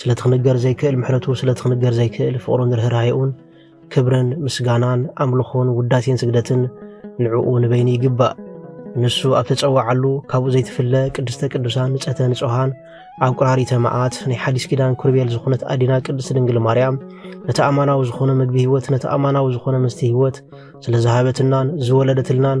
ስለቲ ክንገር ዘይክእል ምሕረቱ ስለቲ ክንገር ዘይክእል ፍቕሩን ርህራሄኡን ክብርን ምስጋናን ኣምልኾን ውዳሴን ስግደትን ንዕኡ ንበይኑ ይግባእ። ንሱ ኣብ ተጸዋዓሉ ካብኡ ዘይትፍለ ቅድስተ ቅዱሳን ንጸተ ንጹሃን ኣብ ቁራሪተ መዓት ናይ ሓዲስ ኪዳን ኩርቤል ዝኾነት ኣዴና ቅድስቲ ድንግል ማርያም ነቲ ኣማናዊ ዝኾነ ምግቢ ህይወት ነቲ ኣማናዊ ዝኾነ ምስቲ ህይወት ስለ ዝሃበትናን ዝወለደትልናን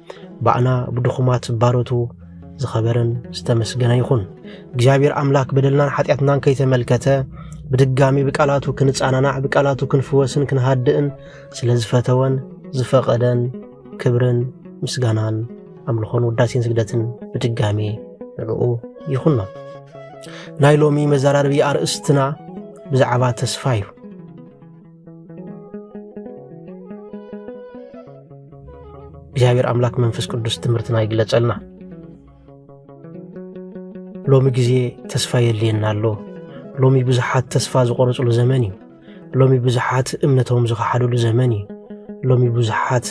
ባእና ብድኹማት ባሮቱ ዝኸበረን ዝተመስገነ ይኹን። እግዚኣብሔር ኣምላክ በደልናን ሓጢኣትናን ከይተመልከተ ብድጋሚ ብቃላቱ ክንጻናናዕ ብቃላቱ ክንፍወስን ክንሃድእን ስለ ዝፈተወን ዝፈቐደን ክብርን ምስጋናን ኣምልኾን ውዳሴን ስግደትን ብድጋሚ ንዕኡ ይኹኖ። ናይ ሎሚ መዘራርቢ ኣርእስትና ብዛዕባ ተስፋ እዩ። እግዚኣብሔር ኣምላክ መንፈስ ቅዱስ ትምህርትና ይግለጸልና ሎሚ ግዜ ተስፋ የድልየና ኣሎ ሎሚ ብዙሓት ተስፋ ዝቆረፅሉ ዘመን እዩ ሎሚ ብዙሓት እምነቶም ዝኸሓድሉ ዘመን እዩ ሎሚ ብዙሓት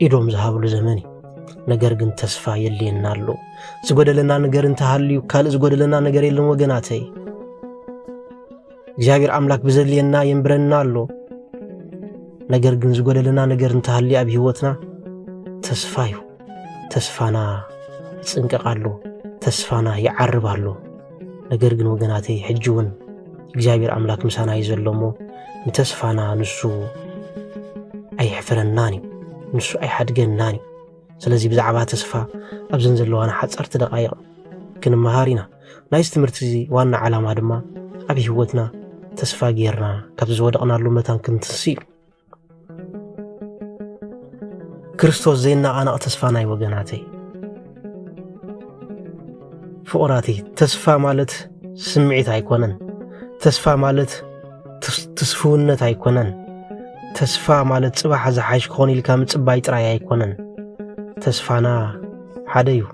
ኢዶም ዝሃብሉ ዘመን እዩ ነገር ግን ተስፋ የድልየና ኣሎ ዝጎደለና ነገር እንተሃልዩ ካልእ ዝጎደለና ነገር የለን ወገናተይ እግዚኣብሔር ኣምላክ ብዘድልየና የንብረና ኣሎ ነገር ግን ዝጎደለና ነገር እንተሃልዩ ኣብ ህይወትና ተስፋ እዩ ተስፋና ይጽንቀቕ ኣሎ ተስፋና ይዓርብ ኣሎ ነገር ግን ወገናተይ ሕጂ እውን እግዚኣብሔር ኣምላክ ምሳና እዩ ዘሎ እሞ ንተስፋና ንሱ ኣይሕፍረናን እዩ ንሱ ኣይሓድገናን እዩ ስለዚ ብዛዕባ ተስፋ ኣብዘን ዘለዋና ሓፀርቲ ደቃይቕ ክንመሃር ኢና ናይዚ ትምህርቲ እዚ ዋና ዓላማ ድማ ኣብ ህይወትና ተስፋ ጌርና ካብዚ ዝወደቕናሉ መታን ክንትንስ እዩ ክርስቶስ ዘይናቓናቕ ተስፋ ናይ ወገናተይ ፍቑራተይ ተስፋ ማለት ስምዒት ኣይኮነን ተስፋ ማለት ትስፍውነት ኣይኮነን ተስፋ ማለት ጽባሕ ዝሓይሽ ክኾን ኢልካ ምጽባይ ጥራይ ኣይኮነን ተስፋና ሓደ እዩ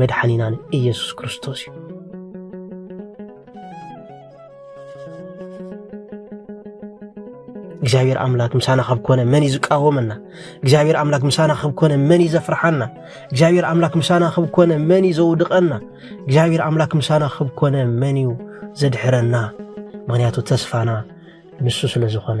መድሓኒናን ኢየሱስ ክርስቶስ እዩ። እግዚኣብሔር ኣምላክ ምሳና ካብ ኮነ መን እዩ ዝቃወመና? እግዚኣብሔር ኣምላክ ምሳና ካብ ኮነ መን እዩ ዘፍርሓና? እግዚኣብሔር ኣምላክ ምሳና ካብ ኮነ መን እዩ ዘውድቐና? እግዚኣብሔር ኣምላክ ምሳና ካብ ኮነ መን እዩ ዘድሕረና? ምክንያቱ ተስፋና ንሱ ስለ ዝኾነ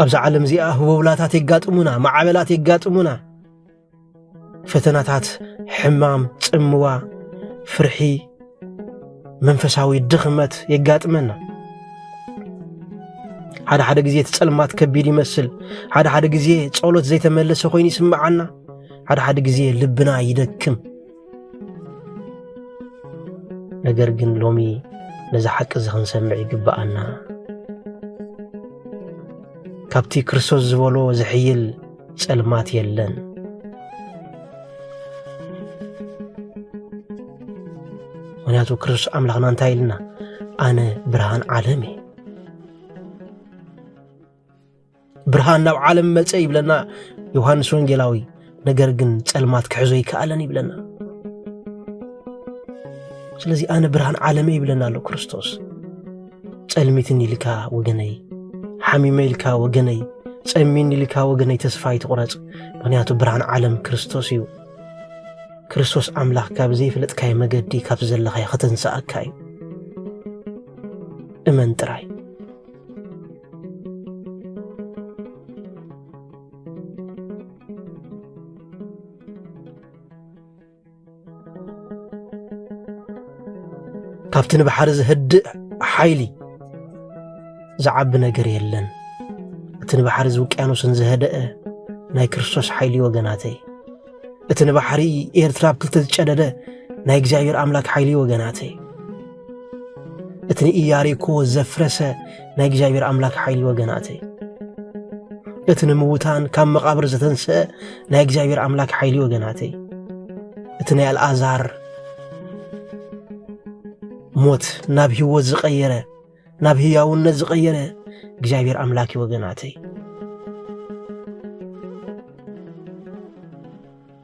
ኣብዚ ዓለም እዚኣ ህቦብላታት የጋጥሙና፣ ማዕበላት የጋጥሙና፣ ፈተናታት፣ ሕማም፣ ጽምዋ፣ ፍርሒ፣ መንፈሳዊ ድኽመት የጋጥመና። ሓደ ሓደ ግዜ እቲ ጸልማት ከቢድ ይመስል፣ ሓደ ሓደ ግዜ ጸሎት ዘይተመለሰ ኮይኑ ይስምዓና፣ ሓደ ሓደ ግዜ ልብና ይደክም። ነገር ግን ሎሚ ነዚ ሓቂ እዚ ክንሰምዕ ይግብኣና ካብቲ ክርስቶስ ዝበሎ ዝሕይል ጸልማት የለን ምክንያቱ ክርስቶስ ኣምላኽና እንታይ ኢልና ኣነ ብርሃን ዓለም እየ ብርሃን ናብ ዓለም መጸ ይብለና ዮሃንስ ወንጌላዊ። ነገር ግን ጸልማት ክሕዞ ይከኣለን ይብለና። ስለዚ ኣነ ብርሃን ዓለመ ይብለና ኣሎ ክርስቶስ። ጸልሚትን ኢልካ ወገነይ፣ ሓሚመ ኢልካ ወገነይ፣ ጸሚን ኢልካ ወገነይ ተስፋ ይትቑረጽ። ምክንያቱ ብርሃን ዓለም ክርስቶስ እዩ። ክርስቶስ ኣምላኽ ካብ ዘይፍለጥካይ መገዲ ካብ ዘለኻዮ ከተንስኣካ እዩ። እመን ጥራይ። ካብቲ ንባሕሪ ዝህድእ ሓይሊ ዝዓቢ ነገር የለን እቲ ንባሕሪ ዝውቅያኖስን ዝህደአ ናይ ክርስቶስ ሓይሊ ወገናተይ እቲ ንባሕሪ ኤርትራ ኣብ ክልተ ዝጨደደ ናይ እግዚኣብሔር ኣምላክ ሓይሊ ወገናተይ እቲ ንኢያሪኮ ዘፍረሰ ናይ እግዚኣብሔር ኣምላክ ሓይሊ ወገናተይ እቲ ንምውታን ካብ መቓብር ዘተንስአ ናይ እግዚኣብሔር ኣምላክ ሓይሊ ወገናተይ እቲ ናይ ኣልኣዛር ሞት ናብ ህይወት ዝቐየረ ናብ ህያውነት ዝቐየረ እግዚኣብሔር ኣምላክ እዩ ወገናተይ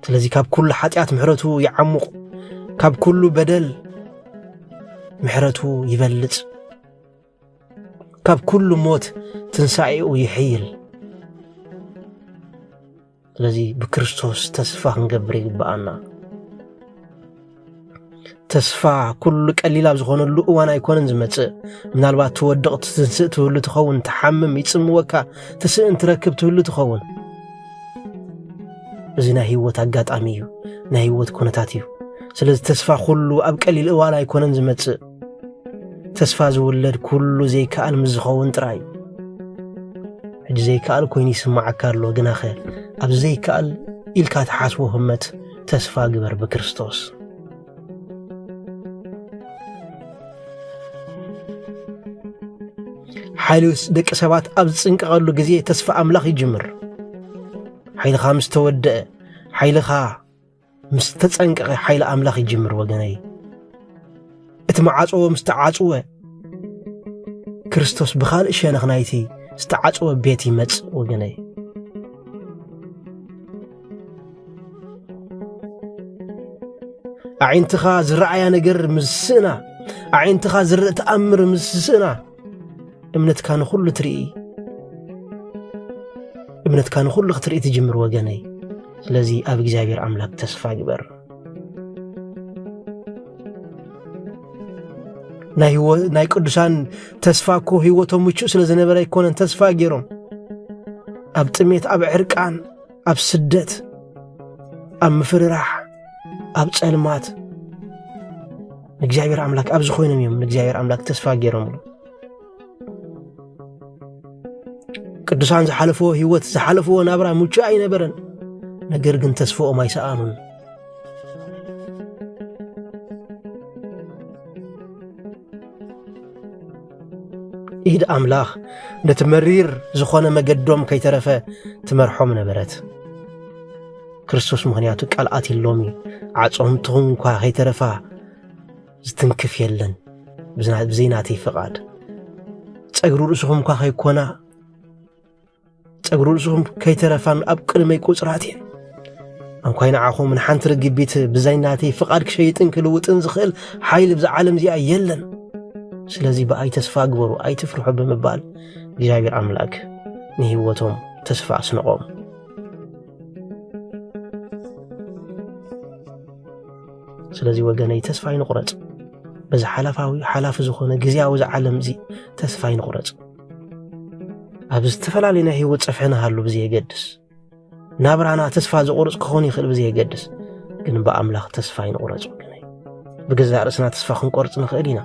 ስለዚ ካብ ኩሉ ሓጢኣት ምሕረቱ ይዓሙቕ ካብ ኩሉ በደል ምሕረቱ ይበልጽ ካብ ኩሉ ሞት ትንሣኤኡ ይሕይል ስለዚ ብክርስቶስ ተስፋ ክንገብር ይግብኣና። ተስፋ ኩሉ ቀሊል ኣብ ዝኾነሉ እዋን ኣይኮነን ዝመጽእ። ምናልባት ትወድቕ ትትንስእ ትህሉ ትኸውን፣ ትሓምም ይጽምወካ፣ ትስእን ትረክብ ትህሉ ትኸውን። እዚ ናይ ህይወት ኣጋጣሚ እዩ፣ ናይ ህይወት ኩነታት እዩ። ስለዚ ተስፋ ኩሉ ኣብ ቀሊል እዋን ኣይኮነን ዝመጽእ። ተስፋ ዝውለድ ኩሉ ዘይከኣል ምስ ዝኸውን ጥራይ እዩ ሕጂ ዘይከኣል ኮይኑ ይስምዓካ ኣሎ ግናኸ ኣብ ዘይከኣል ኢልካ ትሓስቦ ህመት ተስፋ ግበር ብክርስቶስ ሓይሊ ደቂ ሰባት ኣብ ዝጽንቀቐሉ ግዜ ተስፋ ኣምላኽ ይጅምር ሓይልኻ ምስ ተወደአ ሓይልኻ ምስ ተጸንቀቐ ሓይሊ ኣምላኽ ይጅምር ወገነይ። እቲ መዓጽዎ ምስ ተዓጽወ ክርስቶስ ብኻልእ ሸነኽ ናይቲ ዝተዓጽወ ቤት ይመጽእ ወገነይ። ኣዒንትኻ ዝረኣያ ነገር ምስ ስእና፣ ኣዒንትኻ ዝርእ ተኣምር ምስ ስእና እምነትካ ንኹሉ ትርኢ እምነትካ ንኹሉ ክትርኢ ትጅምር ወገነይ ስለዚ ኣብ እግዚኣብሔር ኣምላክ ተስፋ ግበር ናይ ቅዱሳን ተስፋ እኮ ህይወቶም ምቹእ ስለ ዝነበረ ኣይኮነን ተስፋ ገይሮም ኣብ ጥሜት ኣብ ዕርቃን ኣብ ስደት ኣብ ምፍርራሕ ኣብ ጸልማት ንእግዚኣብሔር ኣምላክ ኣብዚ ኮይኖም እዮም ንእግዚኣብሔር ኣምላክ ተስፋ ገይሮምሉ ቅዱሳን ዝሓለፍዎ ህይወት ዝሓለፍዎ ናብራ ምቹ ኣይነበረን ነገር ግን ተስፋኦም ኣይሰኣኑን ኢድ ኣምላኽ ነቲ መሪር ዝኾነ መገዶም ከይተረፈ ትመርሖም ነበረት። ክርስቶስ ምኽንያቱ ቃል ኣትሎም እዩ። ዓጾምትኹም እኳ ከይተረፋ ዝትንክፍ የለን ብዘይናተይ ፍቓድ ጸግሪ ርእስኹም እኳ ከይኮና ጸጉሪ ርእስኹም ከይተረፋን ኣብ ቅድመይ ቁጽራት እየን እንኳይ ንዓኹም ንሓንቲ ርግቢት ብዛይ ናተይ ፍቓድ ክሸይጥን ክልውጥን ዝኽእል ሓይሊ ብዛ ዓለም እዚኣ የለን ስለዚ ብኣይ ተስፋ ግበሩ ኣይትፍርሑ ብምባል እግዚኣብሔር ኣምላክ ንህይወቶም ተስፋ ኣስንቖም ስለዚ ወገነይ ተስፋ ይንቑረጽ በዚ ሓላፋዊ ሓላፊ ዝኾነ ግዜያዊ ዝዓለም እዚ ተስፋ ይንቑረጽ ኣብ ዝተፈላለዩ ናይ ህይወት ፀፍሒ ንሃሉ ብዘየገድስ ናብራና ተስፋ ዘቑርፅ ክኾን ይኽእል ብዘየገድስ ግን ብኣምላኽ ተስፋ ይንቑረፅ ወገነ ብገዛእ ርእስና ተስፋ ክንቆርፅ ንኽእል ኢና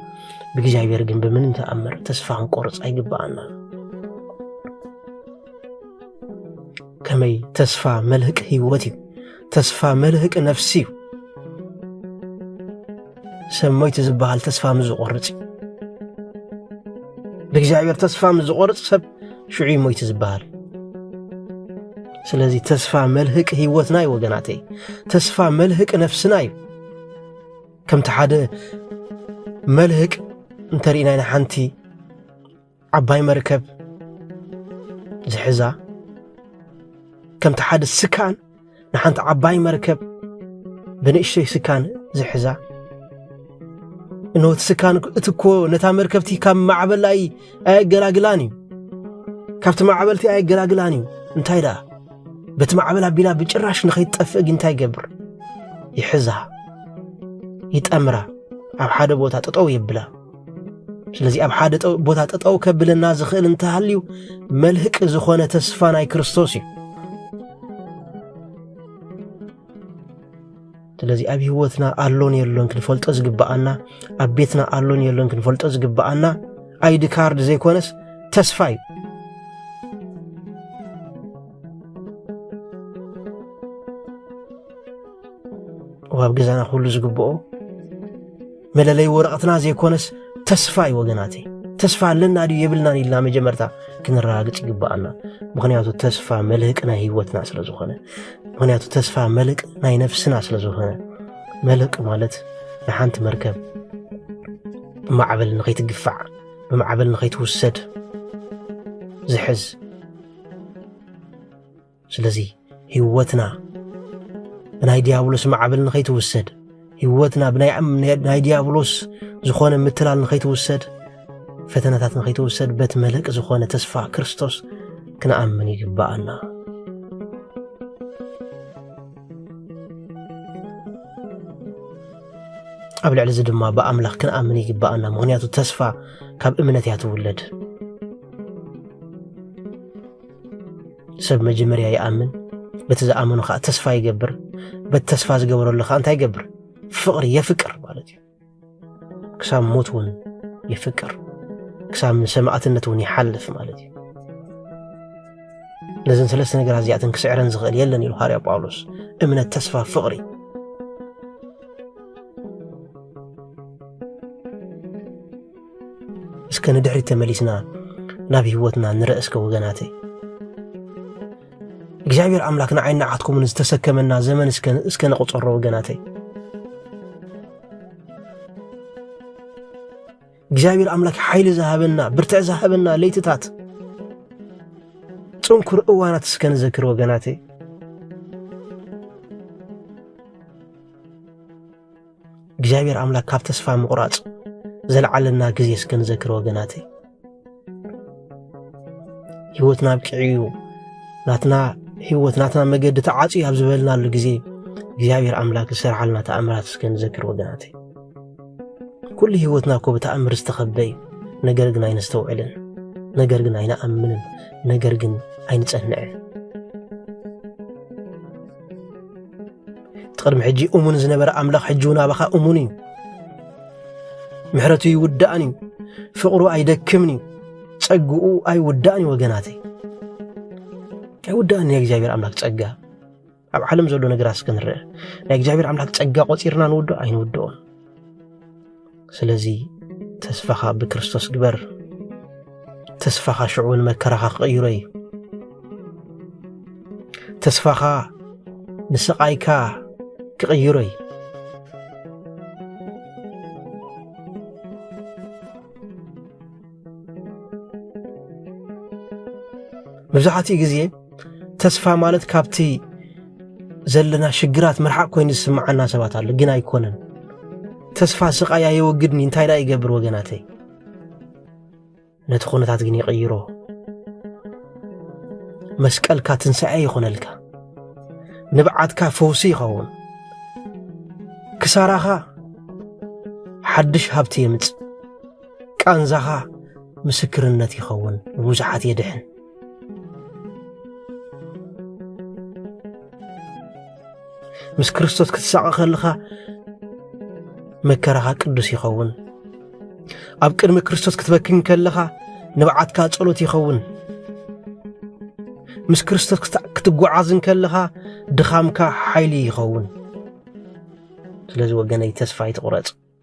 ብእግዚኣብሔር ግን ብምንም ተኣምር ተስፋ ክንቆርፅ ኣይግባኣና ከመይ ተስፋ መልህቅ ህይወት እዩ ተስፋ መልህቅ ነፍሲ እዩ ሰብ ሞይቲ ዝበሃል ተስፋ ምስ ዝቖርጽ እዩ ብእግዚኣብሔር ተስፋ ምስ ዝቖርጽ ሰብ ሽዑ እዩ ሞይቲ ዝበሃል ስለዚ ተስፋ መልህቂ ህይወትና እዩ ወገናተይ ተስፋ መልህቂ ነፍስና እዩ ከምቲ ሓደ መልህቅ እንተርኢና ኢና ሓንቲ ዓባይ መርከብ ዝሕዛ ከምቲ ሓደ ስካን ንሓንቲ ዓባይ መርከብ ብንእሽተይ ስካን ዝሕዛ እነወቲ ስካን እቲ እኮ ነታ መርከብቲ ካብ ማዕበል ኣይ ኣየገላግላን እዩ ካብቲ ማዕበልቲ ኣየገላግላን እዩ እንታይ ደኣ በቲ ማዕበል ኣቢላ ብጭራሽ ንኸይትጠፍእ ግን እንታይ ይገብር ይሕዛ ይጠምራ ኣብ ሓደ ቦታ ጠጠው የብላ ስለዚ ኣብ ሓደ ቦታ ጠጠው ከብለና ዝኽእል እንተሃልዩ መልህቂ ዝኾነ ተስፋ ናይ ክርስቶስ እዩ። ስለዚ ኣብ ህይወትና ኣሎን የሎን ክንፈልጦ ዝግብኣና ኣብ ቤትና ኣሎን የሎን ክንፈልጦ ዝግብኣና ኣይዲ ካርድ ዘይኮነስ ተስፋ እዩ። ኣብ ገዛና ኩሉ ዝግብኦ መለለይ ወረቐትና ዘይኮነስ ተስፋ እዩ ወገናተይ ተስፋ ኣለና ድዩ የብልናን ኢልና መጀመርታ ክንረጋግፅ ይግባኣና ምክንያቱ ተስፋ መልህቅ ናይ ህይወትና ስለ ዝኾነ ምክንያቱ ተስፋ መልቅ ናይ ነፍስና ስለ ዝኾነ መልቅ ማለት ንሓንቲ መርከብ ብማዕበል ንኸይትግፋዕ ብማዕበል ንኸይትውሰድ ዝሕዝ ስለዚ ህይወትና ብናይ ዲያብሎስ ማዕበል ንኸይትውሰድ ህይወትና ብናይ ዲያብሎስ ዝኾነ ምትላል ንኸይትውሰድ ፈተናታት ንኸይትውሰድ በት መለቂ ዝኾነ ተስፋ ክርስቶስ ክንኣምን ይግብኣና ኣብ ልዕሊ እዚ ድማ ብኣምላኽ ክንኣምን ይግብኣና ምክንያቱ ተስፋ ካብ እምነት እያ ትውለድ ሰብ መጀመርያ ይኣምን በቲ ዝኣመኑ ከዓ ተስፋ ይገብር በቲ ተስፋ ዝገበረሉ ከዓ እንታይ ይገብር ፍቅሪ የፍቅር ማለት እዩ ክሳብ ሞት እውን የፍቅር ክሳብ ንሰማእትነት እውን ይሓልፍ ማለት እዩ ነዘን ሰለስተ ነገራት እዚኣተን ክስዕረን ዝኽእል የለን ኢሉ ሃርያ ጳውሎስ እምነት ተስፋ ፍቅሪ እስከ ንድሕሪት ተመሊስና ናብ ህይወትና ንረእ እስከ ወገናተይ እግዚኣብሔር ኣምላክ ንዓይን ንዓትኩምን ዝተሰከመና ዘመን እስከ ንቁፀሮ ወገናተይ እግዚኣብሔር ኣምላክ ሓይሊ ዝሃበና ብርትዕ ዝሃበና ለይትታት ፅንኩር እዋናት እስከ ንዘክር ወገናተይ እግዚኣብሔር ኣምላክ ካብ ተስፋ ምቑራጽ ዘለዓለና ግዜ እስከ ንዘክር ወገናተይ ህይወት ናብ ቅዕዩ ናትና ህይወት ናትና መገዲ ተዓፅዩ ኣብ ዝበልናሉ ግዜ እግዚኣብሔር ኣምላክ ዝሰርሓልና ተኣምራት እስከ ንዘክር ወገናተይ ኩሉ ህይወትና እኮ ብተኣምር ዝተኸበ እዩ ነገር ግን ኣይነስተውዕልን ነገር ግን ኣይንኣምንን ነገር ግን ኣይንጸንዕን እቲ ቅድሚ ሕጂ እሙን ዝነበረ ኣምላኽ ሕጂ እውን ኣባኻ እሙን እዩ። ምሕረቱ ይውዳእን እዩ፣ ፍቕሩ ኣይደክምን እዩ፣ ጸግኡ ኣይውዳእን እዩ። ወገናተይ ኣይውዳእን ናይ እግዚኣብሔር ኣምላኽ ጸጋ ኣብ ዓለም ዘሎ ነገራት እስከ ንርአ። ናይ እግዚኣብሔር ኣምላኽ ጸጋ ቆጺርና ንውድኦ ኣይንውድኦን። ስለዚ ተስፋኻ ብክርስቶስ ግበር ተስፋኻ ሽዑ እውን መከራኻ ክቕይሮ እዩ ተስፋኻ ንስቓይካ ክቕይሮ እዩ መብዛሕትኡ ግዜ ተስፋ ማለት ካብቲ ዘለና ሽግራት ምርሓቅ ኮይኑ ዝስምዓና ሰባት ኣሎ፣ ግን ኣይኮነን። ተስፋ ስቃይ ኣየወግድኒ እንታይ ደኣ ይገብር ወገናተይ፣ ነቲ ኩነታት ግን ይቕይሮ። መስቀልካ ትንሣኤ ይኾነልካ፣ ንብዓትካ ፈውሲ ይኸውን፣ ክሳራኻ ሓድሽ ሃብቲ የምጽእ። ቃንዛኻ ምስክርነት ይኸውን፣ ንብዙሓት የድሕን። ምስ ክርስቶስ ክትሳቐ ከለኻ መከራኻ ቅዱስ ይኸውን። ኣብ ቅድሚ ክርስቶስ ክትበክን ከለኻ ንብዓትካ ጸሎት ይኸውን። ምስ ክርስቶስ ክትጓዓዝን ከለኻ ድኻምካ ሓይሊ ይኸውን። ስለዚ ወገነይ ተስፋ ኣይትቑረጽ።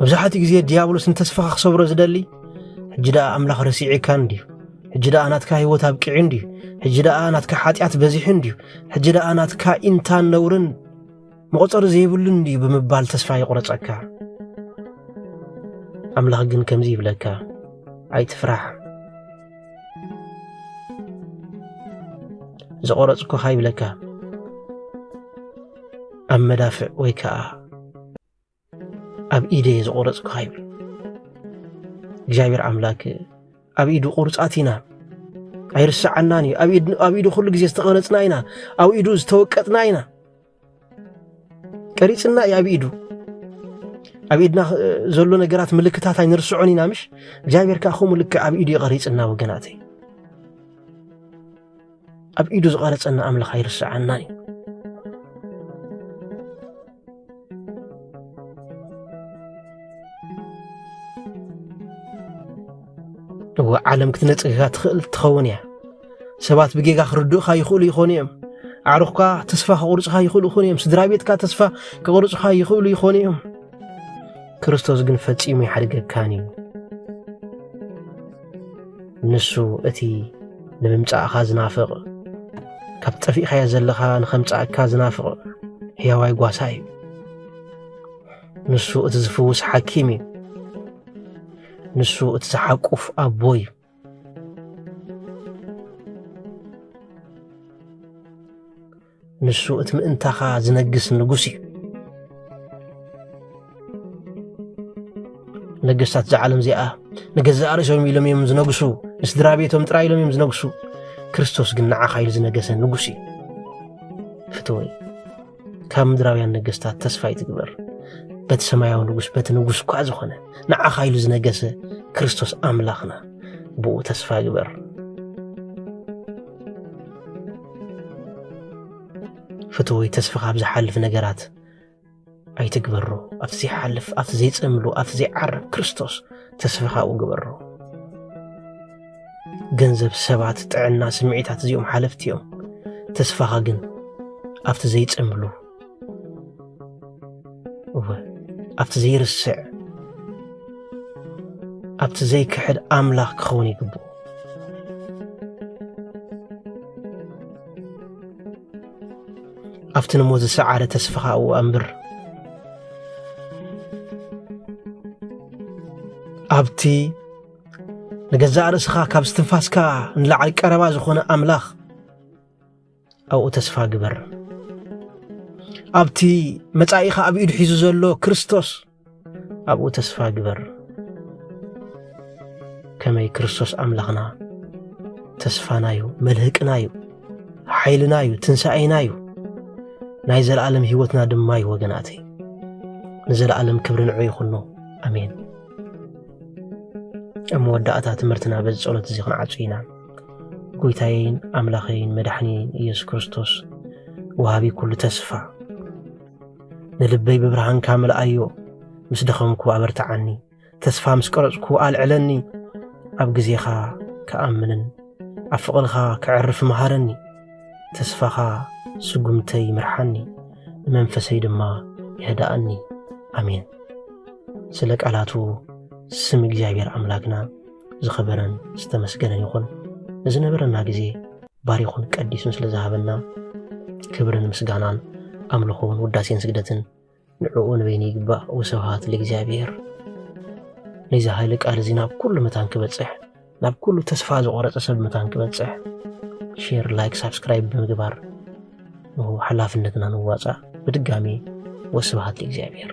መብዛሕትኡ ግዜ ድያብሎስ ንተስፋኻ ክሰብሮ ዝደሊ ሕጂ ደኣ ኣምላኽ ረሲዒካ እንድዩ ሕጂ ደኣ ናትካ ህይወት ኣብቂዑ እንድዩ ሕጂ ደኣ ናትካ ሓጢኣት በዚሑ እንድዩ ሕጂ ደኣ ናትካ ኢንታን ነውርን መቑፀሪ ዘይብሉ እንድዩ ብምባል ተስፋ ይቑረፀካ ኣምላኽ ግን ከምዚ ይብለካ ኣይትፍራሕ ዝቆረፅኩኻ ይብለካ ኣብ መዳፍዕ ወይ ከዓ ኣብ ኢደ ዝቆረፅካ ይብል እግዚኣብሔር ኣምላክ ኣብ ኢዱ ቁርፃት ኢና ኣይርሰዓናን እዩ ኣብ ኢዱ ኩሉ ግዜ ዝተቐረፅና ኢና ኣብ ኢዱ ዝተወቀጥና ኢና ቀሪፅና እዩ ኣብ ኢዱ ኣብ ኢድና ዘሎ ነገራት ምልክታት ኣይንርስዖን ኢና ምሽ እግዚኣብሔር ከዓ ከምኡ ልክዕ ኣብ ኢዱ ይቐሪፅና ወገናተይ ኣብ ኢዱ ዝቐረጸና ኣምላኽ ኣይርስዓናን እዩ። እወ ዓለም ክትነጽግካ ትኽእል ትኸውን እያ። ሰባት ብጌጋ ክርድኡኻ ይኽእሉ ይኾኑ እዮም። ኣዕሩኽካ ተስፋ ክቑርጽኻ ይኽእሉ ይኾኑ እዮም። ስድራ ቤትካ ተስፋ ክቑርጽኻ ይኽእሉ ይኾኑ እዮም። ክርስቶስ ግን ፈጺሙ ይሓድገካን እዩ። ንሱ እቲ ንምምጻእካ ዝናፍቕ ካብ ጠፊእካዮ ዘለኻ ንኸምጻእካ ዝናፍቕ ሕያዋይ ጓሳ እዩ ንሱ እቲ ዝፍውስ ሓኪም እዩ ንሱ እቲ ዝሓቁፍ ኣቦ እዩ ንሱ እቲ ምእንታኻ ዝነግስ ንጉስ እዩ ነገስታት እዛ ዓለም እዚኣ ንገዛእ ርእሶም ኢሎም እዮም ዝነግሱ ንስድራ ቤቶም ጥራይ ኢሎም እዮም ዝነግሱ ክርስቶስ ግን ንዓኻ ኢሉ ዝነገሰ ንጉስ እዩ ፍትወይ ካብ ምድራውያን ነገስታት ተስፋ ይትግበር በቲ ሰማያዊ ንጉስ በቲ ንጉስ እኳ ዝኾነ ንዓኻ ኢሉ ዝነገሰ ክርስቶስ ኣምላኽና ብኡ ተስፋ ግበር ፍትወይ ተስፋ ካብ ዝሓልፍ ነገራት ኣይትግበሮ ኣብቲ ዘይሓልፍ ኣብቲ ዘይፀምሉ ኣብቲ ዘይዓርብ ክርስቶስ ተስፋ ካብኡ ግበሮ ገንዘብ ሰባት ጥዕና ስምዒታት እዚኦም ሓለፍቲ እዮም ተስፋኻ ግን ኣብቲ ዘይፀምሉ እወ ኣብቲ ዘይርስዕ ኣብቲ ዘይክሕድ ኣምላኽ ክኸውን ይግብኦ ኣብቲ ንሞ ዝሰዓረ ተስፋኻ እው ኣንብር ኣብቲ ንገዛእ ርእስኻ ካብ ስትንፋስካ ንላዕሊ ቀረባ ዝኾነ ኣምላኽ ኣብኡ ተስፋ ግበር ኣብቲ መጻኢኻ ኣብ ኢዱ ሒዙ ዘሎ ክርስቶስ ኣብኡ ተስፋ ግበር ከመይ ክርስቶስ ኣምላኽና ተስፋና እዩ መልህቅና እዩ ሓይልና እዩ ትንሣኤና እዩ ናይ ዘለዓለም ህይወትና ድማ እዩ ወገናተይ ንዘለዓለም ክብሪ ንዑ ይኹኖ ኣሜን ኣብ መወዳእታ ትምህርትና በዚ ጸሎት እዚ ክንዓጹ ኢና ጎይታየይን ኣምላኸይን መድሓኒየይን ኢየሱስ ክርስቶስ ወሃቢ ኩሉ ተስፋ ንልበይ ብብርሃንካ ምልኣዮ ምስ ደኸምኩ ኣበርትዓኒ ተስፋ ምስ ቀረጽኩ ኣልዕለኒ ኣብ ግዜኻ ክኣምንን ኣብ ፍቕርኻ ክዕርፍ መሃረኒ ተስፋኻ ስጉምተይ ምርሓኒ ንመንፈሰይ ድማ የህዳኣኒ ኣሜን ስለ ቃላቱ ስም እግዚኣብሔር ኣምላክና ዝኸበረን ዝተመስገነን ይኹን ንዝነበረና ግዜ ባሪኹን ቀዲሱን ስለ ዝሃበና ክብርን ምስጋናን ኣምልኾን ውዳሴን ስግደትን ንዕኡ ንበይኑ ይግባእ ወስብሃት ለእግዚኣብሔር ነዚ ሃይለ ቃል እዚ ናብ ኩሉ መታን ክበፅሕ ናብ ኩሉ ተስፋ ዝቆረፀ ሰብ መታን ክበፅሕ ሼር ላይክ ሳብስክራይብ ብምግባር ሓላፍነትና ንዋፃእ ብድጋሚ ወስብሃት ለእግዚኣብሔር